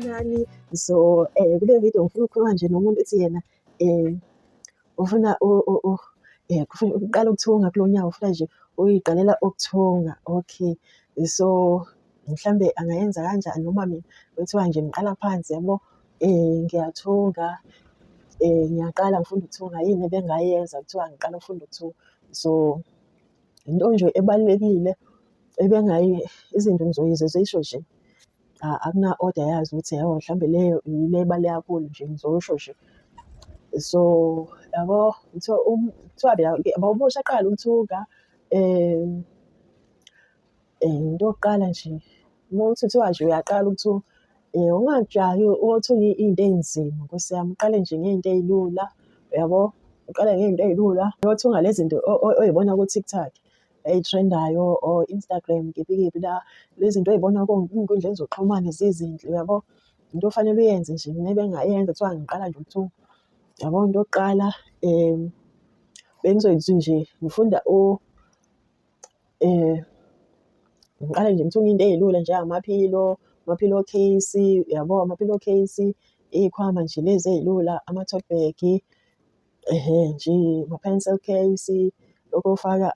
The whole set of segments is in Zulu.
Nani so eh kule video ngifuna ukukhuluma nje nomuntu ethi yena eh ufuna eh kufuna ukuqala ukuthunga kulo nyawo ufuna nje uyiqalela ukuthunga okay so mhlambe angayenza kanjani noma mina kuthiwa nje ngiqala phansi yabo Ngiyathunga, ngiyaqala ngifunda ukuthunga yini ebengayenza kuthiwa ngiqala ukufunda ukuthunga. So, into nje ebalulekile izinto ngizoyizwa zisho nje akuna-oda yazo ukuthi hhayi mhlawumbe leyo yile ebaluleke kakhulu nje ngizosho nje. So, yabo kuthiwa kuthiwa yabo uma usaqala ukuthunga Eh, into yokuqala nje uma uthi kuthiwa nje uyaqala ukuthi um eh, ungajahi othunye iy'nto ey'nzima nkosi yami uqale nje ngey'nto ey'lula uyabo uqale ngey'nto ey'lula yothunga le zinto oy'bona ku-tiktok ey'threndayo or instagram kephi kephi la le zinto oy'bona ey'nkundleni zokuxhumana zizinhle uyabo into ofanele uyenze nje mina bengayenza kuthiwa ngiqala nje ukuthi yabo into yokuqala um bengizoyithi nje ngifunda Ngiqale nje ngithunge into ey'lula njengamaphilo, ama-pillow case, yabo ama-pillow case, iy'khwama nje lezi ey'lula, ama-tote bag, ehe nje ama-pencil case, lokhu okufaka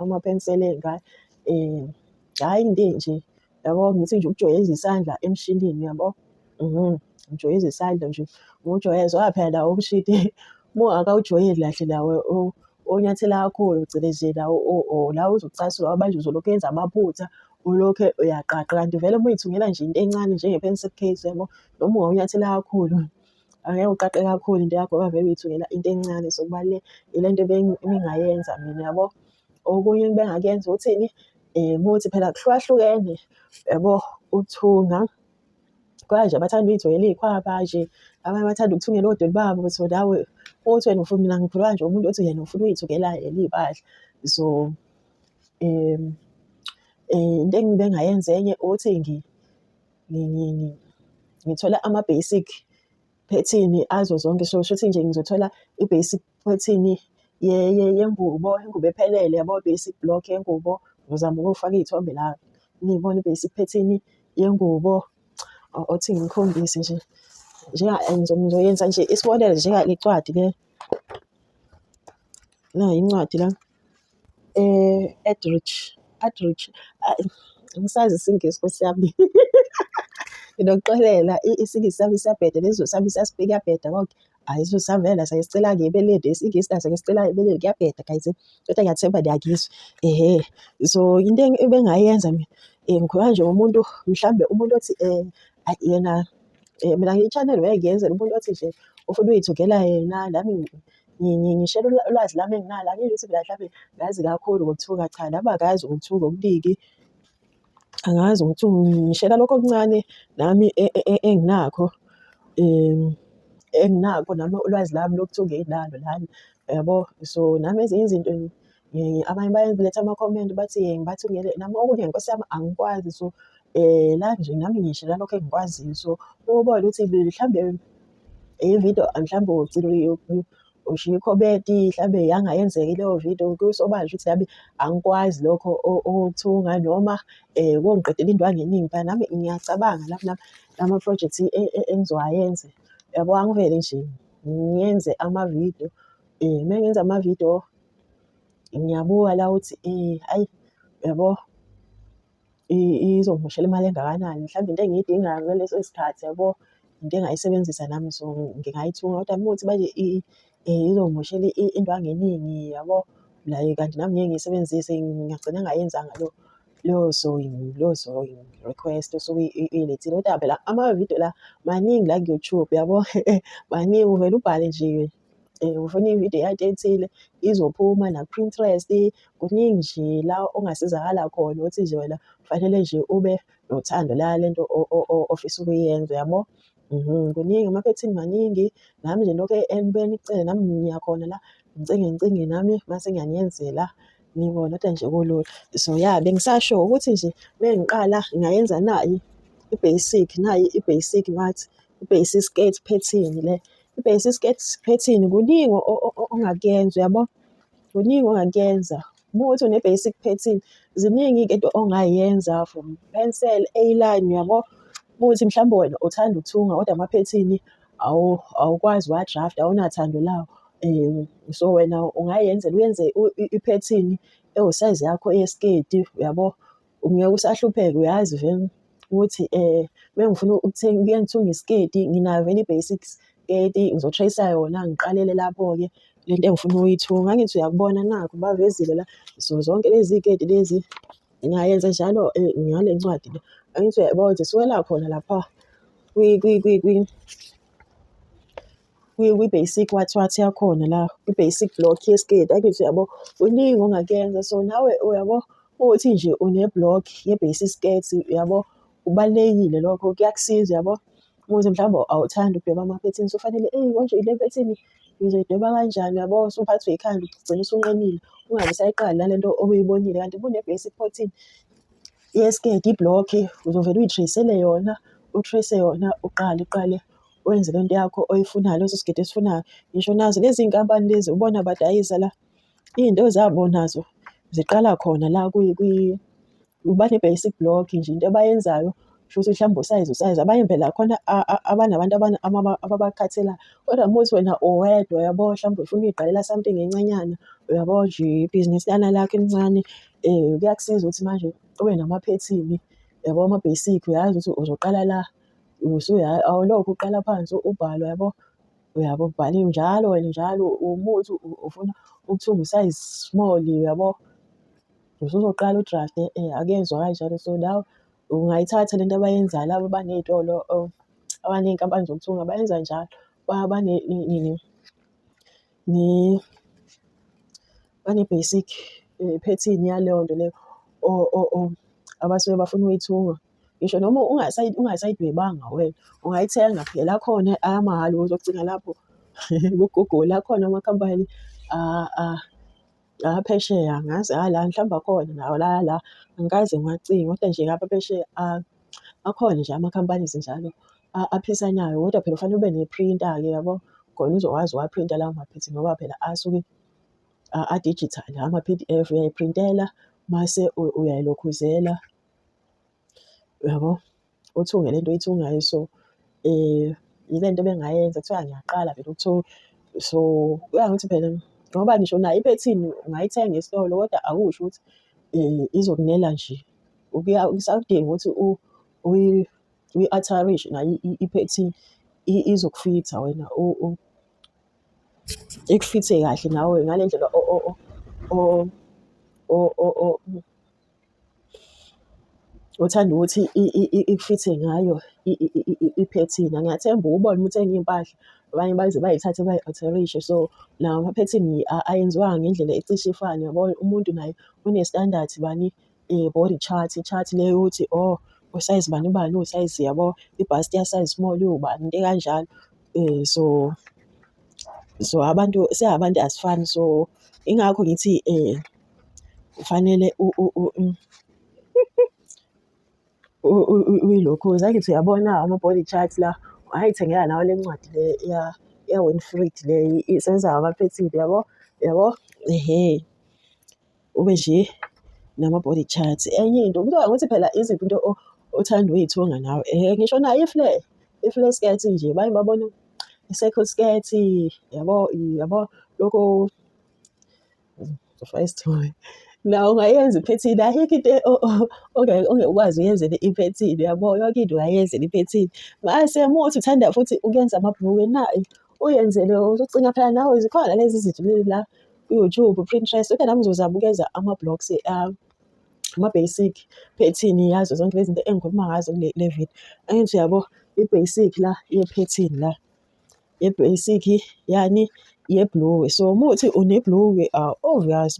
ama-pencil ey'ngane, hhayi into enje. yabo ngithi nje ukujwayeza isandla emshinini yabo mhm. ngijwayeza isandla nje ngujwayeza oya phela lawo umshini uma akawujwayeli kahle lawo onyathela kakhulu phecelezi lawo la uzocasulwa abanje uzolokhu yenza amaphutha ulokhe uyaqaqa kanti vele uma uyithungela nje into encane njenge-pencil case yabo noma ungawunyathela kakhulu angeke uqaqe kakhulu into yakho ngoba vele uyithungela into encane so kubalulekile into ebengingayenza mina yabo okunye engibengakuyenza uthini um ukuthi phela kuhlukahlukene yabo ukuthunga khona nje abathanda uy'thungela iy'khwaba nje abanye bathanda ukuthungela odoli babo so nawe uthi wena ufuna mina ngikhuluma nje umuntu othi yena ufuna uy'thungela yena iy'mpahla so um into engibengayenza enye ukuthi ngithola ama-basic phethini azo zonke so shuthi nje ngizothola i-basic ethini yengubo, ingubo ephelele yabo basic block yengubo. Ngizama ukufaka iy'thombe la niyibone i-basic phethini yengubo othi ngikhombise nje ngizoyenza nje isibonelo njenga le ncwadi le nayi incwadi la. Adrich, Adrich, ayi angisazi isiNgisi Nkosi yami. Nginokuxolela isiNgisi sami siyabheda nesiZulu sami siyasibheka kuyabheda konke. Hhayi isiZulu sami vele naso ngisicela ngebeleni, isiNgisi naso ngisicela ngebeleni kuyabheda guys. Kodwa ngiyathemba niyangizwa. Ehhe, so into ebengingayenza mina ngikhuluma nje ngomuntu mhlawumbe umuntu othi ayi yena mina ngiyi-channel vele ngiyenzela umuntu othi nje ufuna ukuyithungela yena nami ngishela ulwazi lami enginalo angiyi-YouTube la mhlampe ngazi kakhulu ngokuthuka cha nami akazi ngokuthuka okuningi angazi ukuthi ngishela lokho okuncane nami e, e, e, enginakho um enginakho nami ulwazi lami lokuthi ungenalo lana yabo so nami ezinye izinto um abanye bayaletha ama-comment bathi um ngibathi ngele nami okunye nkosi yami angikwazi so um la nje nami ngisho lalokho engikwaziyo so ubone ukuthi mhlawumbe ividiyo mhlawumbe ugcina ushiye ikhomenti mhlawumbe yangayenzeki leyo vidiyo kusobanje ukuthi nami angikwazi lokho okuthunga noma um kongiqedela into angeningi phela nami ngiyacabanga lapho nami lama-project e, e, engizowayenze yabo angivele nje ngiyenze amavidiyo um uma ngenza amavidiyo ngiyabuka la ukuthi ayi yabo izongimoshela imali engakanani mhlawumbe into engiyidingayo ngaleso sikhathi yabo into engayisebenzisa nami so ngingayithunga kodwa uma kuthi manje izongimoshela into angeningi yabo la kanti nami ngeke ngiyisebenzise ngingagcina ngayenzanga lo leyo sewing leyo sewing request osuke ilethile kodwa phela amavidiyo la maningi la ku-YouTube yabo maningi uvele ubhale nje um ufuna ividiyo yakhe ethile izophuma naku-Pinterest kuningi nje la ongasizakala khona ukuthi nje wena kufanele nje ube nothando la lento ofisa ukuyenza yabo mhm, kuningi amaphethini maningi nami nje lokho entweni kucele nami ngiyakhona la ngicinge ngicinge nami mase ngiyaniyenzela nibona kodwa nje kulula so ya bengisasho ukuthi nje mengiqala ngayenza nayi i-basic nayi i-basic ngathi ibhesi isiketi phethini le ibhesi isiketi phethini kuningi ongakuyenza uyabo kuningi ongakuyenza uma uthi une-basic pattern ziningi-ke into ongayenza from pencil a-line uyabo uma uthi mhlawumbe wena uthanda ukuthunga kodwa amaphethini awukwazi wa-draft awunathando lawo um so wena ungayenzela uyenze iphethini ewusayizi yakho yesiketi uyabo Ngeke usahlupheka uyazi vele ukuthi um uma ngifuna ukuthenga kuye ngithunge isiketi nginayo vele i-basics sketi ngizotrayisa yona ngiqalele lapho-ke le nto engifuna ukuyithunga ngangithi uyakubona nakho bavezile la so zonke lezi keti lezi ngiyayenza njalo eh, ngale ncwadi le angithi uyayibona ukuthi siwela khona lapha kwi-basic wathi wathi yakhona la kwi-basic block yesketi akithi uyabo kuningi ongakuyenza so nawe uyabo uthi nje une-block ye-basic skirt uyabo kubalulekile lokho kuyakusiza uyabo ukuthi mhlawumbe awuthandi ukudweba ama-patterns ufanele eyi konje ile pattern ngizoyidweba kanjani uyabo usuphathwe yikhanda ugcina usunqenile ungabe usayiqali nale nto obuyibonile kanti kune-basic pattern yesketi iblock uzovele uyitracele yona utrace yona uqale uqale wenze le nto yakho oyifunayo leso sigidi esifunayo ngisho nazo lezi nkampani lezi ubona badayisa la iy'nto zabo nazo ziqala khona la bane-basic block nje into abayenzayo shuthi mhlawumbe usayizi usayizi abanye phela khona abanabantu ababakhathela kodwa uma uthi wena uwedwa yabo mhlawumbe ufuna uyiqalela something encanyana uyabo nje ibhizinisi lana lakho elincane um kuyakusiza ukuthi manje ube namaphethini yabo ama-basic uyazi ukuthi uzoqala la. awulokhu uqala phansi ubhale yabo, uyabo ubhale njalo wena njalo umuthi ufuna ukuthenga u-size small yabo. Usuzoqala u-draft-e akezwa kanjalo so nawe ungayithatha le nto abayenzayo laba abaney'tolo abaney'nkampani zokuthunga bayenza njalo . bane-basic phethini yaleyo nto leyo abasuke bafuna ukuyithunga. Ngisho noma ungasayidwebanga wena ungayithenga phela akhona amahhala uzocinga lapho ku-Google akhona amakhampani la phesheya angazi hhayi la mhlawumbe akhona nawo la la angikaze ngiwacinge kodwa nje ngapha phesheya a- akhona nje ama-companies njalo a- aphisanayo kodwa phela kufanele ube ne-printer-ke yabo khona uzokwazi uwaphrinta lawo maphethini ngoba phela asuke a- a-digital ama-P_D_F uyayiprintela mase u- uyayilokhuzela. Uyabo? Uthunge le nto oyithungayo so yile nto ebengayenza kuthiwa ngiyaqala vele ukuthunga. So kuya ngokuthi phela ngoba ngisho nayo iphethini ungayithenga esitolo kodwa akusho ukuthi izokunela nje. Kuya kusakudinga ukuthi uyi-atharishe nayo iphethini izokufitha wena ikufithe kahle nawe ngale ndlela . Uthanda ukuthi ikufithe ngayo iphethini. Ngiyathemba uwubona uma uthenga iy'mpahla abanye baze bayithathe bayi-alterishe. So nawo amaphethini ayenziwanga ngendlela ecishe ifane yabo. Umuntu naye une-standard bani body chart, chart le yokuthi oh usayizi bani bani uwusayizi yabo. Ibhasi liyasayizi small iwubani into ekanjalo. So so abantu singabantu asifani so ingakho ngithi . Kufanele uyilokhuze angithi uyabona ama-body chart la wayithengela nawe le ncwadi le ya-Winfried le isebenza ngama-pattern yabo yabo ehe ube nje nama-body chart. Enye into kuthiwa ukuthi phela iziphi into othanda uyithunga nawe ehe ngisho nayo i-flare i-flare skirt nje baye babone i-circle skirt yabo yabo lokho Faka isithombe. Nawe ungayenza iphethini, ayikho into e- o- o- onge- ongekwazi uyenzele iphethini, uyabo? Yonke into ungayenzela iphethini. Mase uma uthi uthanda futhi ukuyenza amabhulukwe nayo, uyenzele uzocinga phela nawe zikhona lezi zinto lezi la ku-YouTube, Pinterest, kodwa nami ngizozama ukwenza ama-blocks ami, ama-basic phethini yazo zonke lezi zinto engikhuluma ngazo kule le video. Angithi uyabo i-basic la yephethini la. ye-basic yani yebhulukwe. So uma uthi unebhulukwe obvious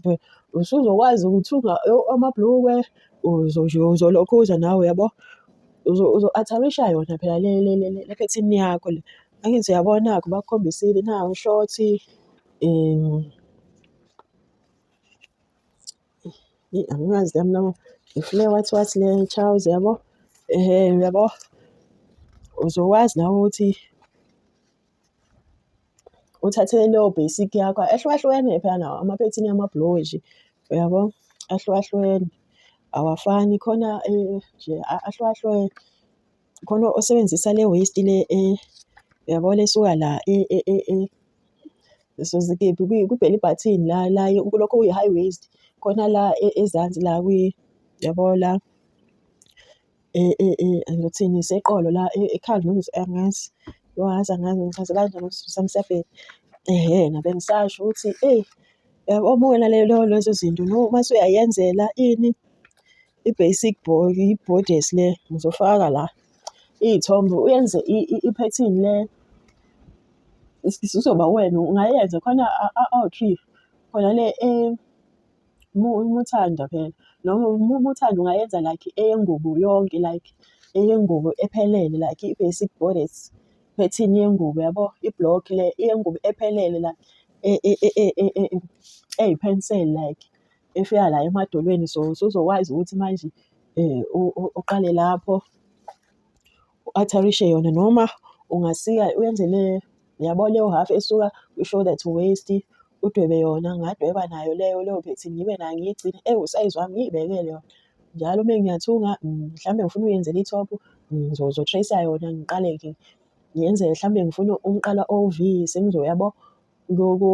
usuzokwazi ukuthunga amabhulukwe uzolokhuza nawe uyabo. Uzo-atharisha yona phela le le le le phethini yakho le. Angithi uyabona-ke ubakhombisile nawu ushorti . Eyi angikazi yami nabo ngifune wathi wathi le Charles yabo um yabo uzokwazi nawe ukuthi uthathe leyo basic yakho ehlukahlukene phela nawo amaphethini amabhuloji uyabo ahlukahlukene awafani khona eh, nje a- ahlukahlukene khona osebenzisa le waste le eh, yabo lesuka la eh, eh, eh, eh. so zikephi kwi-belly button la la kulokho kuyi-high waist khona la e, ezansi la kwi yabo la e, e, ngizothini seqolo la ekhanda noma angazi yohazi angazi ngichaze kanjani ukusifisa msebheni ehe ngabe ngisasho ukuthi eyi yabo obuke nalelo lezo zinto no uma usuyayenzela ini I-basic i-borders le ngizofaka la iy'thombe uyenze iphethini le isizoba wena ungayenza khona awu-three khona le umuthanda phela noma umuthanda ungayenza like eyengubo yonke like eyengubo ephelele like i-basic borders phethini yengubo yabo i-block le eyengubo ephelele la eyiphenseli like efika la emadolweni so usuzokwazi ukuthi manje um uqale lapho u-atharishe yona noma ungasika uyenze le yabo leyo half esuka kwi-shoulder that waist udwebe yona ngadweba nayo leyo leyo bethi ngibe nayo ngiyigcine ewu usayizi wami ngiyibekele yona njalo uma ngiyathunga mm, mhlawumbe ngifuna uyenzela i-top ngizotrace mm, yona ngiqale ngiyenze mhlawumbe ngifuna umqala o-v sengizoyabo Ngoku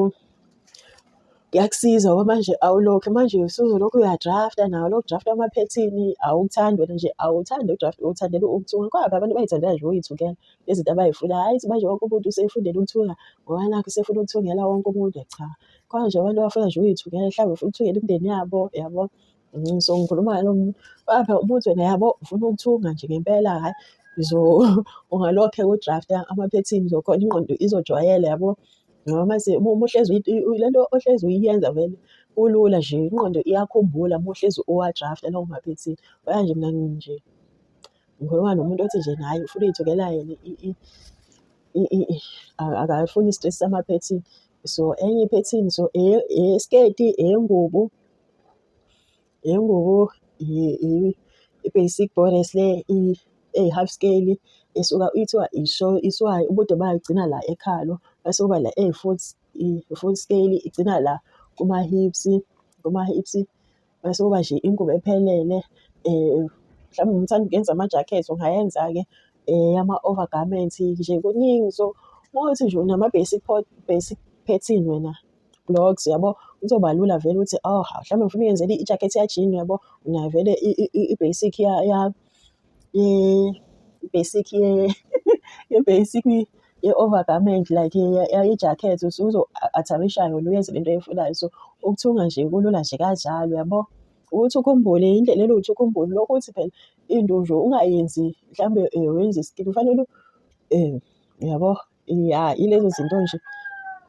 kuyakusiza ngoba manje awulokhu manje usuzolokhu uyadrafta nawo lokhu draft amaphethini awukuthandi wena nje awuthandi udraft uwuthandela ukuthunga kwaba abantu bayithandela nje uyithukela izinto abayifuna hayi manje wonke umuntu usefundela ukuthunga ngoba nakho usefuna ukuthungela wonke umuntu cha khona nje abantu abafuna nje uyithukela mhlawumbe ufuna ukuthungela imindeni yabo yabo Ngiso ngikhuluma lo muntu bapha umuntu wena yabo ufuna ukuthunga nje ngempela hhayi ngizo ungalokhe udrafta amaphethini zokhona ingqondo izojwayela yabo ngoba mase uma uhlezi le nto ohlezi uyiyenza vele kulula nje ingqondo iyakhumbula uma uhlezi uwadrafta lawo maphethini baya nje mina nje ngikhuluma nomuntu othi nje naye ufuna uyithukela yena akafuni i-stress samaphethini so enye iphethini so eyesiketi eyengubo Ingubo i-basic bonus le eyi-half scale isuka ithiwa iswayi ubude bayo igcina la ekhalo bese kuba le eyi-full i-full scale igcina la kuma-hips kuma-hips bese kuba nje ingubo ephelele um mhlawumbe uma uthanda ukuyenza ama-jacket ungayenza-ke eyama-overgarment nje kuningi so uma kuwukuthi nje unama-basic basic pattern wena. blogs yabo kuzoba lula vele ukuthi oh mhlawumbe ngifuna uyenzele ijacket yajini yabo unayo vele i-basic ya ya i-basic ye ye-basic ye-overgarment like ye-jacket usuzo-atharisha yona uyenze le nto oyifunayo so ukuthunga nje kulula nje kanjalo yabo ukuthi ukhumbule indlela eluthi ukhumbule lokho ukuthi phela into nje ungayenzi mhlawumbe um wenza isikini kufanele um yabo Ya, ilezo zinto nje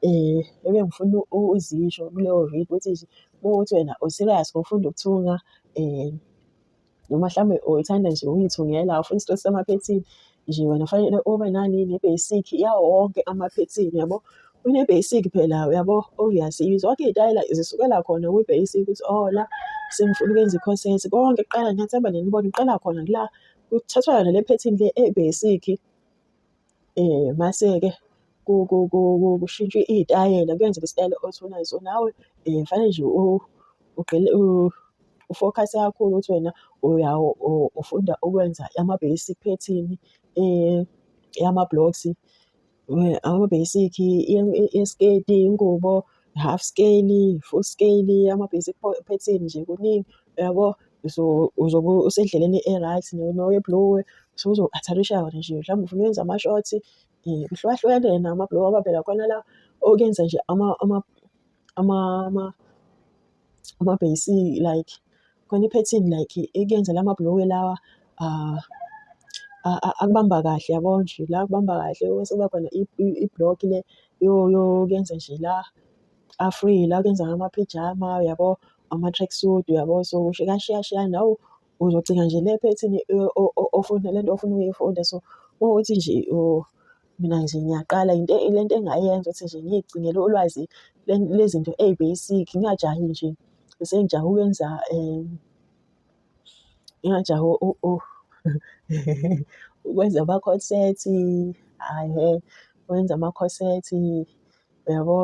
um ebengifuna uzisho kuleyo video ukuthi nje uma kuwukuthi wena u-serious ngokufunda ukuthunga um noma mhlawumbe uyithanda nje ukuyithungela awufuni isitori samaphethini nje wena fanele ube nani ne-basic yawo wonke amaphethini yabo. Une-basic phela uyabo oyaziyo zonke iy'tayela zisukela khona kwi-basic ukuthi oh la sengifuna ukwenza i-corset konke kuqala ngiyathemba nenibona iqala khona kula kuthathwa yona le phethini le e-basic. Mase-ke kushintshwa iy'tayela kuyenzeka isitayela othi unaso nawe fanele nje ugxile ufokhase kakhulu ukuthi wena ufunda ukwenza ama-basic pattern yama-blocks, ama-basic yesiketi, ingubo. half scale, full scale, ama-basic pattern nje kuningi uyabo. So uzobe usendleleni e-right noye-blue usuzo-atharisha wona nje mhlawumbe ufuna ukwenza ama-short um kuhlukahlukene yena ama-blue ngoba phela khona la okuyenza nje ama-ama-ama-ama. amabheyisi like khona iphethini like ikuyenzela amabhulukwe lawa ah, akubamba kahle yabo nje la kubamba kahle bese kuba khona i-block le yokuyenza nje la a-free la kuyenza ngama-pyjama uyabo, ama-tracksuit uyabo, so shiyashiyana. Hawu, Uzogcina nje le phethini ofuna le nto ofuna ukuyifunda so ukuthi nje mina nje ngiyaqala into le nto engayenza ukuthi nje ngiyigcinele ulwazi lezinto ey'-basic ngingajahi nje sengijahe ukwenza um ngingajahi ukwenza ama-corset hhayi ngeke, ukwenza ama-corset Uyabo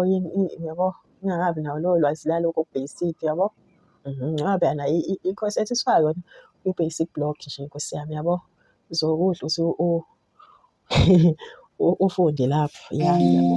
uyabo ngingakabi nawo lowo lwazi lalokho basic yabo. Mhm, ngoba phela nayo i-course ethiswayo yona i-basic block nje Nkosi yami yabo. Uzokudla uthi u ufunde lapho ya yabo.